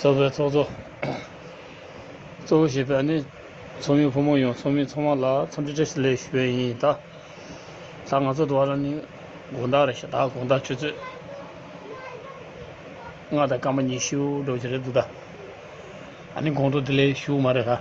གཙོ་བོའི་ཚོགས་གཙོ། གཙོ་བོ་ཞེས་པ་ནི། ཚོགས་མི་ཕོ་མོ་ཡང་ཚོགས་མི་ཚོགས་མ་ལ་ཚོགས་འདྲི་བཀྲ་ཤིས་ལེགས་ཞུ་བའི་ཡིན་ད། ད་ང་ཚོ་འདུག་བ་ལ་ནི་དགོངས་དག་རེད་ཤག་ད་དགོངས་དག་ཁྱོད་ཚོས། ང་དང་སྐར་མ་གཉིས་ཤི་འོ་འགྲོ་གི་རེད་འདུག་ད། ད་ནི་དགོངས་དོག་འདི་ལས་ཞུ་མ་རེད་ད།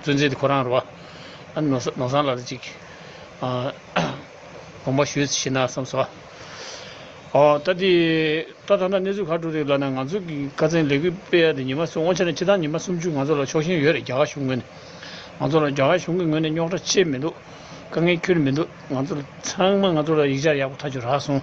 བཙུན་ཚེ་འདི་ཁོ་རང་རོ། ནོར་བཟང་ལ་ལ་ཅིག། དགོངས་པ་ཞུས་ཤེས་ན་བསམས་སོ། ད་དེ་ད་ད་ལྟ་གནས་ཚུལ་ག་གྲུབ་རེད་ལབ་ན་ང་ཚོ་གི་བཀའ་བཙན་ལེགས་པོས་སྤེལ་ཡ་དེ་ཉི་མ་སོ་སྔོན་ཆད་ནས་ཕྱི་ཟླ་ཉི་མ་སུམ་ཅུ་ང་ཚོ་ལ་ཕྱོགས་ཞེན་ཡོད་རེད་རྒྱ་གར་གཞུང་ངོས་ནས་ང་ཚོ་ལ་རྒྱ་གར་གཞུང་གི་ངོས་ནས་རྙོག་དྲ་ཆེ་མི་འདུག་དཀའ་ངལ་ཁྱོལ་མི་འདུག་ང་ཚོ་ལ་ཚང་མ་ང་ཚོ་ལ་ཡིག་ཆ་ཡག་པོ་ཐག་ཆོད་རག་སོང།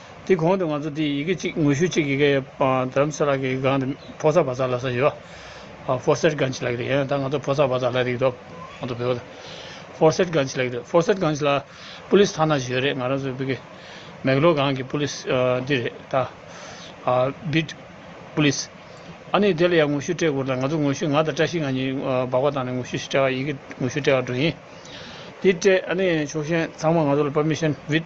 དེའི་གོང་དུ་ང་ཚོ་དེའི་ཡི་གེ་གཅིག་ངོ་བཤུས་གཅིག་ཡི་གེ་བོད་རམ་ས་ལ་གི་སྒང་དུ་ཕོ་སར་བ་ཚ་ལ་ས་ཡོད་པ་ཕོ་སེར་སྒང་ཆེ་ལ་གི་རེད་ཡང་ད་ང་ཚོ་ཕོ་སར་བ་ཚ་ལ་རིགས་དོག་ང་ཚོ་བོད་པ་ཚ་ཕོ་སེར་སྒང་ཆེ་ལ་གི་རེད་ཕོ་སེར་སྒང་ཆེ་ལ་པུ་ལིས་ཐ་ན་ཞིག་ཡོད་རེད་ང་རང་ཚོའི་བོད་ཀྱི་མེག་ལོ་སྒང་གི་པུ་ལིས་འདི་རེད་ད། བིད། པུ་ལིས། ཨ་ནི་དེ་ལ་ཡང་ངོ་བཤུས་སྤྲད་དགོས་རེད་ད་ང་ཚོ་ངོ་བཤུས་ང་དང་བཀྲ་ཤིས་ང་གཉིས་སྦག་སྦག་བཏང་ནས་ངོ་བཤུས་ཞིག་སྤྲད་ཨ་ཡི་གེ་ངོ་བཤུས་སྤྲད་ཨ་འགྲོ་ཡིན་དེ་སྤྲད་ཨ་ནི་ཕྱོགས་ཞེན་ཚང་མ་ང་ཚོ་ལ་པར་མི་ཤེས་བིད།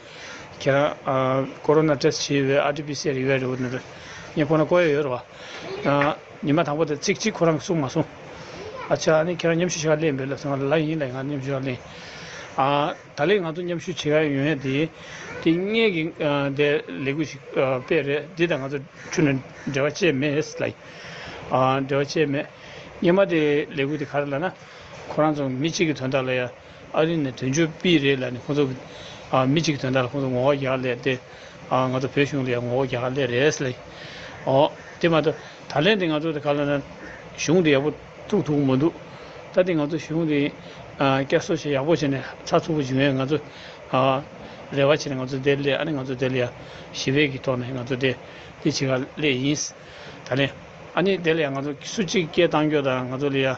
ཁྱེད་རང Corona Test བྱེད་ཡོད་པའི RTPCR ཡོད་རེད་བ་ནོར་ངས་ཁོང་ལ་བསྐོ་ཡོད་ཡོད་རེད་བ། ཉི་མ་དང་པོ་དེ་ཚིག་གཅིག་ཁོ་རང་གིས་གསུངས་མ་སོང། ཨ་ཅག་ཨ་ནི་ཁྱེད་རང་མཉམ་ཞུ་བྱེད་ཀ་གླེང་འབོད་ལབ་སོང་ང་ལ་ལ་ཡིན་ལ་ཡིན་ང་མཉམ་ཞུ་བྱེད་ཀ་གླེང། ད་ལེ་ང་ཚོ་མཉམ་ཞུ་བྱེད་ཀ་ཡོད་ཡོད་དེ་དེ་སྔས་ཀྱི་དེ་ལས་འགུལ་ཞིག་སྤེལ་རེད་དེ་དང་ང་ཚོ་ཆུ་ནས་འབྲེལ་བ་བཅད་མེད་ལ་ཡིན། འབྲེལ་བ་བཅད་མེད། སྙེ་མ་དེ་ལས་འགུལ་དེ་ག་རེ་ལ་ན་ཁོ་རང་ཚོ་མི་གཅིག་གི་དོན་དག་ལ་ཡང། ཨ་རི་ནས་དོན་གཅོད་སྤེལ་རེས་ལ་ནི་ཁོང་ཚོ་མི་གཅིག་དོན་དག་ལ་ཁོང་ཚོ་ངོ་བོ་རྒྱག་སླད་དེ། ང་ཚོ་བོད་གཞུང་ལ་ཡང་ངོ་བོ་རྒྱག་སླད་རེད་སེ། ཨོ། དེ་མ་གཏོགས་ད་ལན་དེ་ང་ཚོ་ག་ལ་ན་གཞུང་དེ་ཡག་པོ་བཙུགས་ཐུབ་མི་འདུག་ད་ལྟ་ང་ཚོ་གཞུང་དེ་བསྐྱར་གསོ་བྱས་ཡག་པོ་བྱས་ནས་ཚགས་ཚུད་པོ་བྱུང་ཡང་ང་ཚོ་རེ་བ་བྱས་ནས་ང་ཚོ་བསྡད་སླད་ཨ་ནི་ང་ཚོ་བསྡད་ལ་ཡང་ཞི་བའི་གི་ཐོག་ནས་ང་ཚོ་བསྡད་དེ་བྱེད་ག་ལས་ཡིན། ད་ལན་ཨ་ནི་བསྡད་ལ་ཡང་ང་ཚོ་སུ་གཅིག་སྐད་གཏང་རྒྱུ་དང་ང་ཚོ་ལ་ཡང།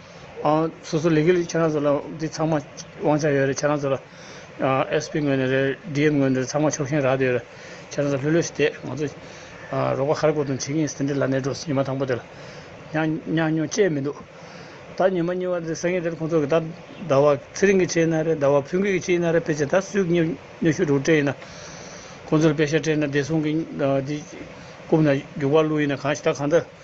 སོ་སོ་ལས་ཀི་ལས་ཁྱེད་རང་ཚོ་ལ་འདི་ཚང་མ་དབང་ཆ་ཡོད་རེད་ཁྱེད་རང་ཚོ་ལ SP ངོས་ནས་རེད DM ངོས་ནས་རེད་ཚང་མ་ཕྱོགས་ཞེན་རག་དེ་ཡོད་རེད་ཁྱེད་རང་ཚོ་ལྷོད་ལྷོད་ཤིག་བསྡད་ང་ཚོ་རོགས་པ་ཧར་གོ་དང་བྱེད་ཀྱིན་ཟིན་འདི་ལ་ནས་འགྲོ་ཉི་མ་དང་པོ་དེ་ལ་ཉག་ཉོག་བཅས་མི་འདུག་ད་ཉི་མ་གཉིས་བ་དེ་སེང་གེ་དེར་ཁོང་ཚོ་གིས་ད་ཟླ་བ་ཚེ་རིང་གིས་བྱས་ན་རེད་ཟླ་བ་ཕུན་སྐྱིད་ཀྱིས་བྱས་ན་རེད་ཕལ་ཆེར་ད་སུས་ཉོ་ཉོ་ཤོད་འདུག་དྲན་ཡིན་ན་ཁོང་ཚོ་ལ་དཔེ་ཤ་དྲན་ན་བདེ་སྲུང་གིས་འདི་རྐུབ་ན་རྒྱུག་པ་བླུག་ཡིན་ན་གང་ཞིག་ད་གང་ལྟར།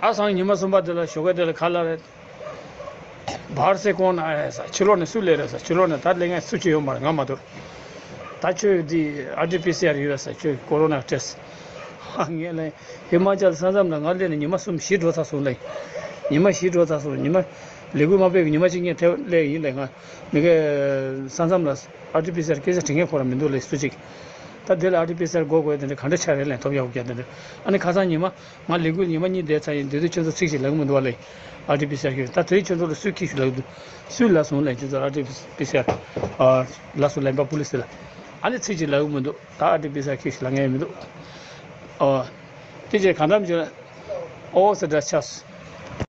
ཨ་སངས་ཉི་མ་གསུམ་པ་དེ་ལ་ཞོགས་ཀ་དེ་ལ་ག་ལ་རེད། བར་སེ་ཀོང་ན་ཨེ་ས་ཕྱི་ལོགས་ནས་སུ་ལས་རེད་ས་ཕྱི་ལོགས་ནས་ད་ལས་ངས་སུ་ཁྱེད་ཡོང་པར་ང་མ་འདུར། ད་ཁྱོད་འདི་ཨ་ཏི་པི་སི་ཨར་ཡོད་ས་ཁྱོད་ཀོ་རོ་ནར་སྤྲད་ས། ཧཧ་ངས་གླེང། ཧི་མ་ཅལ་ས་མཚམས་ལ་ང་སླེབས་ནས་ཉི་མ་གསུམ་བཞི་འགྲོ་ཚར་སོང་གླེང། ཉི་མ་བཞི་འགྲོ་ཚར་སོང་ཉི་མ། ལས་འགུལ་མ་སྤེལ་གི་ཉི་མ་གཅིག་ངས་ཐེ་བ་སླེ་ཡིན་གླེང་ང། མི་ཁའི། ས་མཚམས་ལ་ཨ་ཏི་པི་སི་ཨར་སྐད་ཆ་དྲི་ངེས་ཁོ་ར་མི་འདུག་གླེང་སུ་གཅིག། ད་འདི་ལ་ཨ་ཏི་པི་སར་གོ་དགོས་དེ་འདྲ་ག་འདྲ་ཆགས་རེད་ལན་ཐོབ་ཡག་པོ་བརྒྱབ་དེ་འདྲ་ཨ་ནི་ཁ་སང་ཉི་མ་ང་ལས་འགུལ་ཉི་མ་གཉིས་བསྡད་ཚར་ཡིན་དེ་དུས་ཁྱོད་ཚོ་ཚིག་ཞིག་ལབ་གི་མི་འདུག་བ་ལས་ཨ་ཏི་པི་སར་ཁྱོད་ད་དེ་ཁྱོད་ཚོ་ལ་སུས་ཁྱི་ཞུ་ལབ་འདུག་སུས་ལ་ཟུང་ལན་ཁྱོད་ཚོ་ཨ་ཏི་པི་སར་ལ་སུ་ལན་པ་པུ་ལི་སི་ལ་ཨ་ནི་ཚིག་ཅིག་ལབ་གི་མི་འདུག་ད་ཨ་ཏི་པི་སར་ཁྱི་ཞིག་ལ་ངས་མི་འདུག་ཨོ་ཨོ་དེ་ཅི་གང་འདྲ་མི་ཆོག་ཨོ་ཨོ་ཟེར་འདྲ་ཆགས་སུ།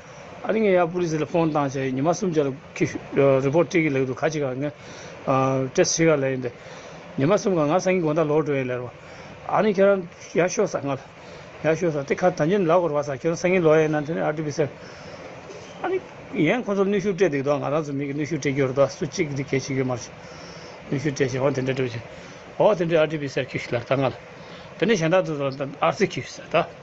ཨ་རིའི་ཡ་པོ་རི་སི་ལ་ཕོན་ཐང་བཅས་ཉི་མ་གསུམ་བརྒྱ་ལ་ཁུ་རི་པོ་ཏི་གི་ལེགས་འདུག་ཁ་ཅིག་ཨང་ཀྲེས་ཤི་ག་ལ་ཡིན་པས་ཉི་མ་གསུམ་ག་ང་སང་གིན་དགོན་ད་ལོག་འགྲོ་ཡི་ལེར་བ་ཨ་ནི་ཁྱེད་རང་ཡ་ཤོ་ས་ངལ་ཡ་ཤོ་ས་ཏི་ཁ་ད་ཉིན་ལ་གོར་བ་ས་ཁྱེད་རང་སང་གིན་ལོག་ཡ་ཡིན་ན་ཐོན་ཨ་ཏི་པི་སེར་ཨ་ནི་ཡན་ཁོ་ཚོར་ནུས་ཤུགས་སྤྲད་འདུག་དོ་ང་རང་ཚོ་མིག་གི་ནུས་ཤུགས་སྤྲད་རྒྱུ་རེད་དོ་སུ་གཅིག་གིས་འདི་གས་བྱེད་རྒྱུ་མ་རེད་ནུས་ཤུགས་སྤྲད་བྱས་འོ་དེ་འདྲ་འགྲོ་བྱུང་འོ་དེ་འདྲས་ཨ་ཏི་པི་སེར་ཁུ་ཤི་ལར་ད་ང་ལ་དེ་འདྲས་གཞན་དག་ཚོ་ཨར་ཚི་ཁུ་ཤི་ས་ད།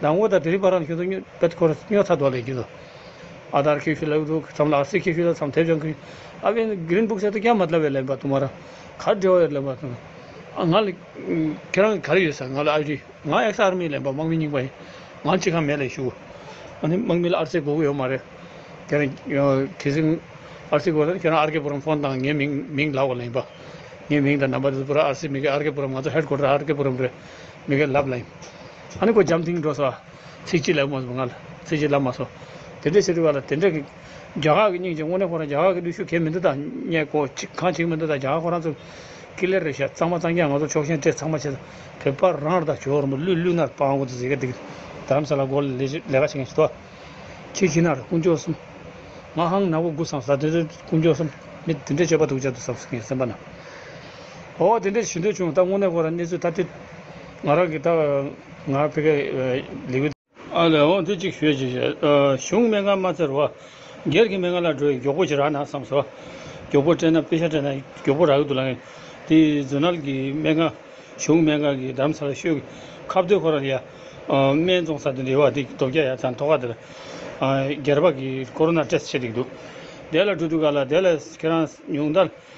ཟླ་ངོ་དང་དུས་རིམ་བར་རང་བཞིན་དུ་སྨྱོས། པད་འཁོར་སྨྱོས་ཚ་རྡོ་ལས་བརྒྱུད་དོ། ཨ་དར་ཁི་ཤི་ལ་ཨུདུ་ཁི་ཚམ་ལ་ཨ་སི་ཁི་ཤི་ལ་ཚམ་ཐེབས་ཅང་ཁི། ཨ་བྷིན Green Book གསེར་དུ་སྐྱ་མ་བསླབ་བའི་ལན་པ་དུ་མ་ར། གར་འབྲེལ་བ་ཡོད་ལན་པ་དུ། ཨ་ང་ལ། ཁྱེད་རང་གི་ག་རེ་ཡོད་ཟེར་ང་ལ་ཨ་རི། ང་ཨེག་ས་ཨར་མི་ལན་པ་དམག་མི་རྙིང་པ་ཡིན། ང་ཅི་གང་མེད་ལས་ཞུ། ཨ་ནི་དམག་མི་ལ་ཨར་སི་དགོས་གི་ཡོད་མ་རེད། ཁྱེད་རང། དེ་སིང། ཨར་སི་དགོས་ན་ཁྱེད་རང་ཨར་ཀེ་པུ་རམ་ཕོན་དང་ངའི་མིང་མིང་ལབ་བ་ལན་པ། ངའི་མིང་དང་རྣམ་པ་དེ་ཚོ་པུ་ར་ཨར་སི་མི་ཁེ་ཨར་ཀེ་པུ་རམ་ང་ཚོ་ཧེད་ཀོ་ཏར་ཨར་ཀེ་པུ་རམ་རེད། མི་ཁེ་ལབ་ལན། ཨ་ནི་གོ་འཇམ་དིང་འགྲོ་སོགས། ཚིག་གཅིག་ལས་དབུ་མ་ཟུང་ལྔ། ཚིག་གཅིག་བླ་མ་སོགས། དེ་འདྲའི་ཕྱིར་རུ་བ་ལ་དེ་འདྲ་གི། རྒྱ་གར་གྱི་སྙིང་རྗེ་དངོས་གནས་ཁོ་རང་རྒྱ་གར་གྱི་ཀླུ་ཤུ་གས་མི་འདུག་ད་སྙད་གོ། གང་བྱེད་ཀྱི་མི་འདུག་ད་རྒྱ་གར་ཁོ་རང་ཚོ། ཀི་ལེར་རེད་ཤག་གཙང་མ་གཙང་རྒྱ་ང་ཚོ་ཕྱོགས་ཞེན་སྤྲད་ཚང་མ་བྱེད། བོད་པ་རང་ར་དང་ཇོ་རིན་པོ་གླུད་གླུད་ནར་སྤང་དགོ་དུ་ཟེར་ག་དེ་གི། དར་རམ་ས་ལ་སྒོར་ལས་ལས་ལས་ཀ་བྱེད་མཁན་ཞིག་ཐོ། ཁྱི་ཁྱི་ནར་དཀོན་མཆོག་གསུམ། ང་ཧང་ནག་པོ་དགུ་བསམ་ས་དེ་ཚོའི་དཀོན་མཆོག་གསུམ། མི་དེ་འདྲས་སྤྱོད་པ་སྡུག་ཅག་དུ་བསམ་ས་ངའི་སེམས་པ་ན། འོ་དེ་འདྲས་ཞུ་འདོད་བྱུང་ད་དངོས་གནས་ཁོ་རང་གནས་ཚུལ་ཐ་དད། ང་རང་གིས་ད་བར་ང་ཕི་ཀའི་ལི་ཝི། ཨ་ལེ་ཨོ་ཏི་ཅིག་ཤོས་ཀྱིས་གཞུང་མེད་ང་མ་བཙིར་བ། སྒེར་གྱི་མེད་ང་ལ་སྒྲོ་ཡི་མགྱོགས་པོ་ཅིག་རག་ན་བསམ་སོང། མགྱོགས་པོ་སྤྲད་ན་དཔེ་ཆ་སྤྲད་ན་མགྱོགས་པོ་རག་གི་འདུག་ལ། དེ་རྫུན་ནལ་གྱི་མེད་ང་གཞུང་མེད་ང་གི་འདམ་ས་ལ་ཤོད། ཁ་བརྡོལ་ཁོ་རང་ལ་ཡ། སྨད་རྫོང་ས་དེ་འདྲི་བ་འདི་རྡོ་བརྒྱ་ཡ་ཚ་མཐོ་ཁ་དེ་ལ། སྒེར་པ་གིས་ཀོ་རོ་ན་ཏྲེས་བྱེད་དེ་འདུག། དེ་ལ་གྲུ་འདུག་ག་ལ་དེ་ལ་ཁྱེད་རང་ཉུང་མཐར།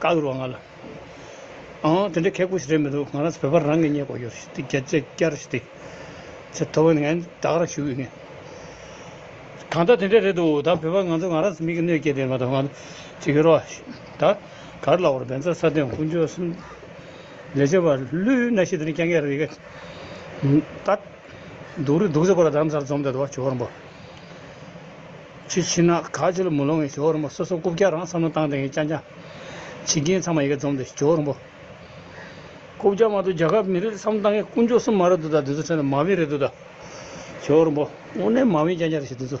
བཀའ་ཟུར་བ་ང་ལ། ཨང། དེ་འདྲའི་ཁལ་ཁུར་ཞིག་རེད་མི་འདུག་ང་རང་ཚོ་བོད་པ་རང་གིས་རྙེད་དགོས་ཡོད་རེད་བསྐྱར་ཞུ་ཡོད་རེད། ཚེ་ཐོག་ངས་བདག་རང་ཞུ་ཡོད་ངེས། གང་ལྟར་དེ་འདྲས་རེད་འདུག་ད་བོད་པ་ང་ཚོ་ང་རང་ཚོ་མིག་གི་གནོད་སྐྱེལ་དེ་མ་གཏོགས་ང་ཅི་ཡོད་རོགས། ད་ག་རེ་ལ་བོར་བན་ཚ་ས་སྟོན་དཀོན་མཆོག་གསུམ། ལས་བྱེད་པ་ལུས་སྣ་ཤེས་དེ་ནི་སྐྱ་འགས་རེད་གི། ད། སྡུག་རེད་སྡུག་ཟེར་པོ་ལ་དམ་སར་འཛོམས་ཏེ་དོ་བ་བྱོས་བར་འབོད། ཆུ་ཕྱི་ནག་ག་ཆུ་ལ་མུ་ལོང་གི་ཇོ་བོ་རིན་པོ་སོ་སོ་སྐུ་བརྒྱ་རང་བསམ་བློ་བཏང་སྟེང་གི་སྤྱན་དྲངས། བྱེད་ཀྱིན་ཚང་མ་ཡི་གེ་འཛོམས་ཏེ་ཇོ་བོ་རིན་པོ། སྐུ་བརྒྱ་མ་དུ་རྒྱ་གར་མི་རིགས་ལ་བསམ་བློ་བཏང་མཁན་དཀོན་མཆོག་སུ་མ་རེད་འདུག་ད་དེ་ཚོ་ཁྲོད་ན་མ་བིན་རེད་འདུག་ད། ཇོ་བོ་རིན་པོ། དངོས་གནས་མ་བིན་རྐྱང་རྐྱང་རེད་བྱེད་དེ་ཚོ།